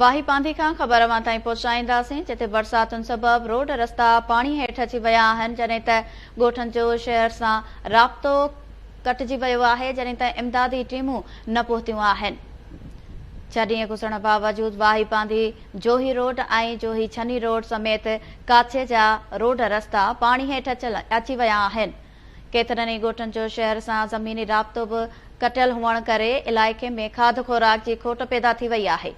واهي پانڌي کان خبر اوهان تائين پهچائينداسين جتي برساتن سبب روڊ رستا پاڻي هيٺ اچي ويا آهن جڏهن ته ڳوٺن جو شهر سان رابطو ڪٽجي ويو آهي جڏهن تائين امدادي ٽيمون نه پهتيون آهن ڇهه ڏينهن گذرڻ باوجود واهي پانڌي جوهي روڊ ۽ جوهي ڇني روڊ سميت ڪاڇي جا روڊ رستا پاڻي هيٺ اچي ويا آهن ڪيترن ئي ڳوٺن جو شهر سان زميني رابطو به ڪٽيل هئڻ ڪري علائقي ۾ کاڌ خوراڪ جي کوٽ پيدا ٿي وئي آهي.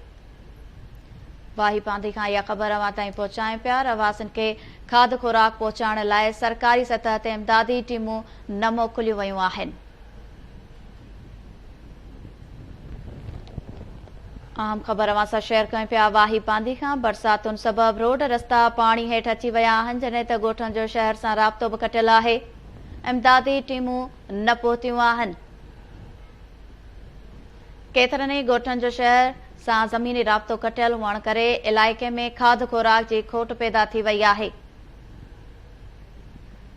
واهي باندي کان اها خبر اوهان تائين پهچايون پيا، رهواسين کي کاڌ خوراڪ پهچائڻ لاء سرڪاري سطح تي امدادي ٽيمون نه موڪليون ويون آهن. اهم خبر اوهان سان شيئر ڪيون پيا واهي باندي کان برساتن سبب روڊ رستا پاڻي هيٺ اچي ويا آهن جڏهن ته ڳوٺن جو شهر سان رابطو به ڪٽيل آهي امدادي ٽيمون نه پهتيون آهن ڪيترن ئي ڳوٺن جو شهر سان زميني رابطو ڪٽيل هئڻ ڪري علائقي ۾ کاڌ خوراڪ جي کوٽ پيدا ٿي وئي آهي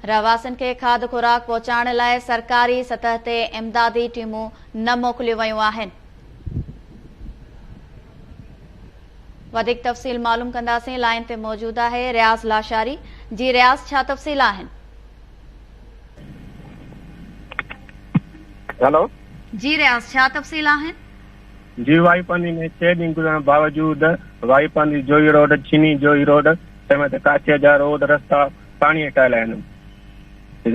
رهواسين کي کاڌ خوراڪ پهچائڻ لاء سرڪاري سطح تي امدادي ٽيمون نه موڪليون ويون آهن. وڌيڪ تفصيل معلوم ڪنداسين لائين تي موجود آهي رياض لاشاري جي رياض ڇا تفصيل آهن. هيلو جي رياض ڇا تفصيل آهن. جي واهي پانڌي ۾ ڇهه ڏينهن گذرڻ باوجود واهي پانڌي جوهي روڊ چيني جوهي روڊ تنهن وقت ڪاڇي جا روڊ رستا پاڻيء ٽاهيل آهن.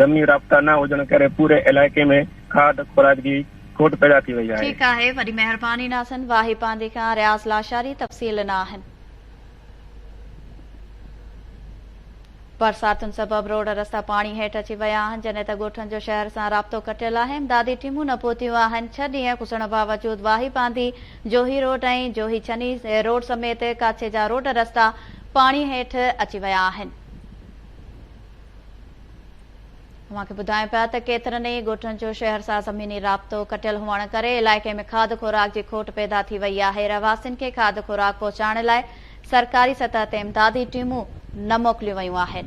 زميني رابطا نه هجڻ ڪري پوري علائقي ۾ کاڌ خوراڪ جي کوٽ پيدا ٿي وئي آهي. ٺيڪ آهي وڏي مهرباني ناصن واهي پانڌي کان رياض لاشاري تفصيل ڏنا آهن. برساتن سبب روڊ رستا پاڻي هيٺ اچي ويا آهن جڏهن ته ڳوٺن جو شهر سان رابطو ڪٽيل آهي امدادي ٽيمون نه پهتيون آهن ڇهه ڏينهن گذرڻ باوجود واهي پانڌي جوهي روڊ ۽ جوهي چني روڊ سميت ڪاڇي جا روڊ رستا پاڻي هيٺ اچي ويا آهن. اوهان کي ٻڌايون پيا ته ڪيترن ئي ڳوٺن جو شهر سان زميني رابطو ڪٽيل هئڻ ڪري علائقي ۾ کاڌ خوراڪ جي کوٽ پيدا ٿي وئي آهي، رهواسين کي کاڌ خوراڪ پهچائڻ لاء سرڪاري سطح تي امدادي ٽيمون نه موڪليون ويون آهن.